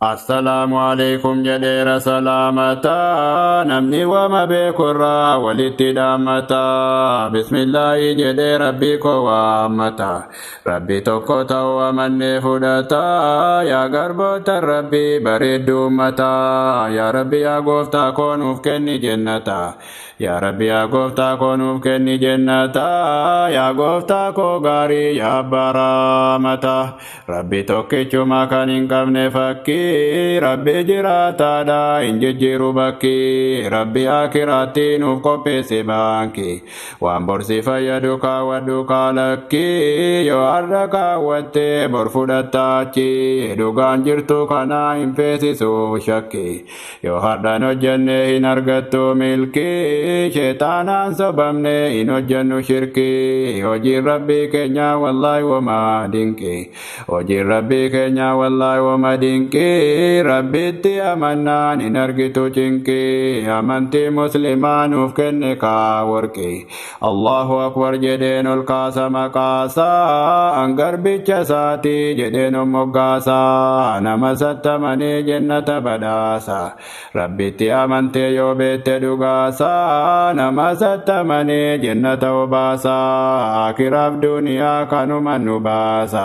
Assalaamu aleykum jedheera salaamata namni wama beekurraa walitti dhaammata bismillaahi jedhee rabbii koo waammata rabbi tokko ta'u amannee fudhata yaa garboota rabbi bareeddu ummata yaa rabbi yaa gooftaa koo nuuf kenni jennata yaa rabbi yaa gooftaa koo nuuf kenni jennata yaa gooftaa koo gaarii yaa abbaa raamata Rabbi tokkichuma kan hin qabne fakkii Rabbi jiraataadha hin jijjiiru bakki Rabbi akiraatti nuuf qopheesse baanki waan borsi fayyadu kaawwadhu kaalakki yoo har'a kaawwatte bor fudhattaachi dhugaan jirtu kanaa hin feesisu shakki Yoo hardhaan hojjannee hin argattu milkii Sheexaanaan sobamne hin hojjannu shirkii Hojiin rabbii keenyaa wallaahi woma dinqii Hojiin rabbii keenyaa wallaahi woma dinqii Rabbitti amannaan hin argitu cinqii Amantii muslimaa nuuf kenne kaa worqii Allahu akbar jedheen ol kaasa maqaasaa garbicha isaatii jedheen of moggaasaa nama sattamanii jennata badhaasa rabbitti amantee yoo beette dhugaasaa nama sattamanii jennata obaasaa akiraaf duniyaa kanuma nu baasa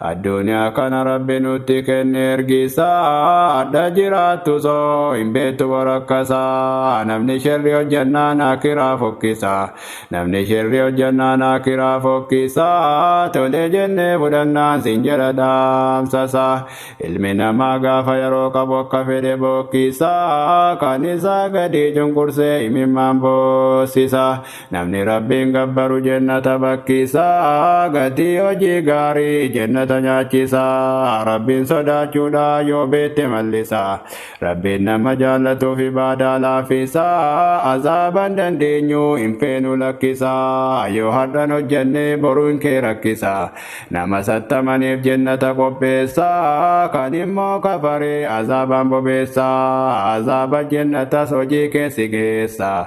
Addunyaa kana rabbi nutti kenne ergisaadha jiraattu soo hin beektu borakkasaa namni sherri hojjannaan akiraa fokkisa namni sherri hojjannaan akiraa fokkisa tolee jennee fudhannaan sin jedha dhaamsasa ilmi namaa gaafa yeroo qabu akka fedhe bokkisa kan isaa gadii cunqursee imimmaan boossisa Namni Rabbiin gabbaru jennata bakkisa, gatii hojii gaarii jennata nyaachisa. Rabbiin sodaachuudha yoo beette mallisa. Rabbiin nama jaallatuuf ibaadaa laafisa. Azaaban dandeenyu hin feenu lakkisa. Yoo har'an hojjenne boruu hin kee rakkisa. Nama sattamaniif jennata qopheessa. Kan immoo kafaree azaabaan bobeessa. Azaaba jennatas hojii keessi geessa.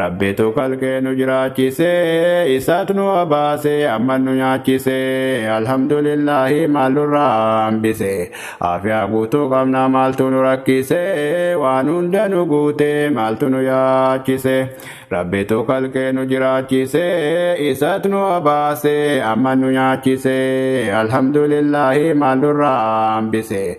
Rabbitu kalqee nu jiraachise isaat nu obaase amma nu nyaachise alhamdulillahi maal nurraa hambise aafiyaa guutuu qabna maaltu nu rakkise waan hunda nu guute maaltu nu yaachise Rabbitu kalqee nu jiraachise isaat nu obaase amma nu nyaachise alhamdulillahi maal nurraa hambise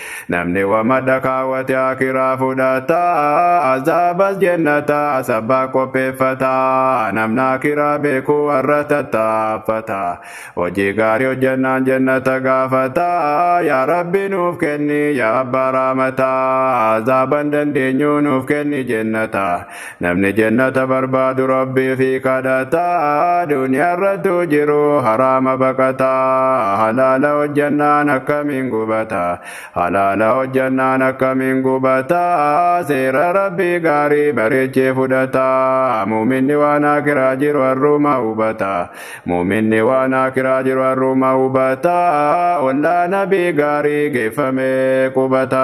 Namni wamadha kaawwate akiraa fudhata azaabas jennata sabba qopheeffata namna akiraa beeku warra tattaaffata hojii gaarii hojjannaan jennata gaafata yaa rabbi nuuf kenni yaa abbaa raamata azaaban dandeenyu nuuf kenni jennata Namni jannata barbaadu rabbii fi kadhataa duniyaarrattuu jiru haraama baqataa halaala hojjannaan akkamiin gubata halaala hojjannaan akkamiin gubata seera rabbii gaarii bareechee fudhata muuminni waan akiraa jiru harruuma hubata muuminni waan akiraa jiru harruuma hubata ollaa nabii gaarii geeffamee qubata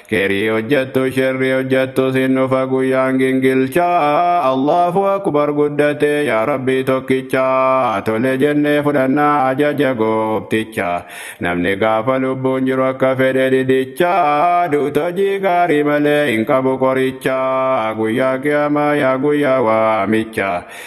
Keerii hojjattu sherri hojjattu sin dhufa guyyaan gingilchaa Allahu akbar guddate yaa rabbii tokkicha tole jennee fudhannaa ajaja goofticha namni gaafa lubbuun jiru akka fedhe didicha duuta hojii gaarii malee hin qabu qoricha guyyaa qiyaamaa yaa guyyaa waamicha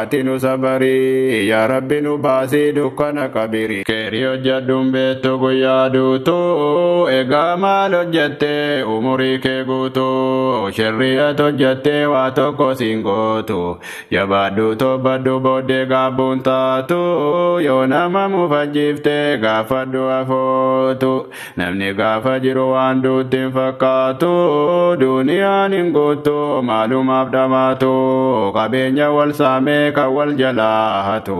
Ati nu sabarii yaa rabbi nu baasii dukkana qabirii. Keeri hojjadhun beettu guyyaa duutu egaa maal hojjatte umurii kee guutu sherrii at hojjatte waa tokko siin gootu jabaadhu toobbadhu booddee gaabbuun taatu yoo nama mufajjiifte gaaffadhu afootu Namni gaafa jiru waan duutti hin fakkaatu duuniyaan hin guuttu maalumaaf dhamaatu qabeenya wal saamee kan wal jalaa hatu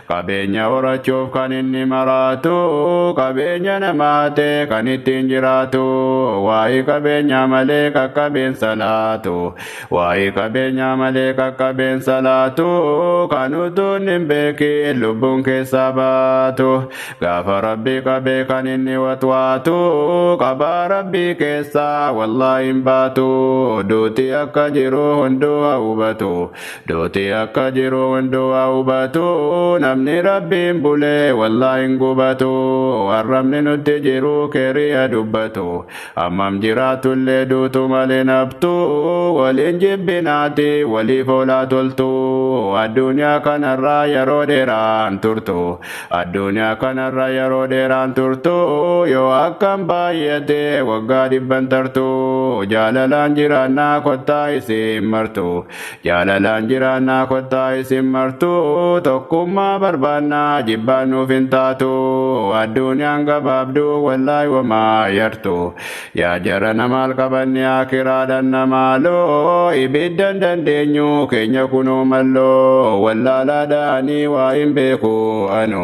qabeenya horachuuf kan inni maraatu qabeenya nama hatee kan ittiin jiraatu waa'ee qabeenyaa malee qaqqabeen salaatu waa'ee qabeenyaa malee qaqqabeen salaatu kan utuun hin beekiin lubbuun keessaa baatu Gaafa rabbi qabe kan inni watwaatu qabaa rabbii keessaa wallaa hin baatu duuti akka jiru hunduu haa hubatu duuti akka jiru hunduu haa hubatu namni rabbiin bulee wallaa hin gubatu arrabni nutti jiru keerii haa dubbatu Hammam jiraatullee duutu malee naftu waliin jibbinaati waliif oolaa toltu addunyaa kanarraa yeroo dheeraan turtu addunyaa kanarra yeroo dheeraan turtu yoo akkam baay'ate waggaa dhibban tartu jaalalaan jiraannaa kottaa isin martu Jaalalaan jiraannaa kottaa isin martuu tokkummaa barbaannaa jibbaan nuuf hin taatu adduunyaan gabaabduu wallaay wamaa yartu yaa jarana maal qabanne akiraadhan namaaloo ibiddan dandeenyu keenya kunoo malloo wallaalaadhaanii waa hin beeku anu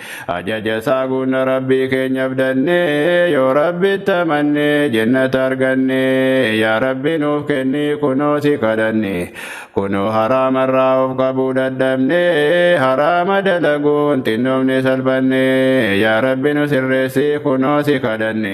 Ajaja isaa guunna Rabbii keenyaaf dannee yoo Rabbitti amannee jennata argannee yaa Rabbi nuuf kennii kunoo si kadhanne kunoo haraamarraa of qabuu dadhabne haraama dalaguun xinnoomne salphanne yaa Rabbi nu sirreessii kunoo si kadhanne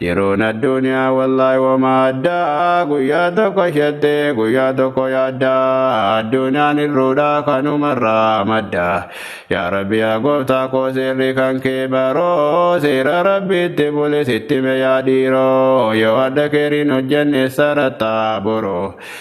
Jiruun addunyaa wallahi wama addaa guyyaa tokko shettee guyyaa tokko yaaddaa addunyaan irruudhaa kanumarraa madda yaa rabbi yaa gooftaa koo seerri kan kee baroo seera rabbiitti bulis itti meyaa dhiiroo yoo adda keeriin hojjenne sarattaa boroo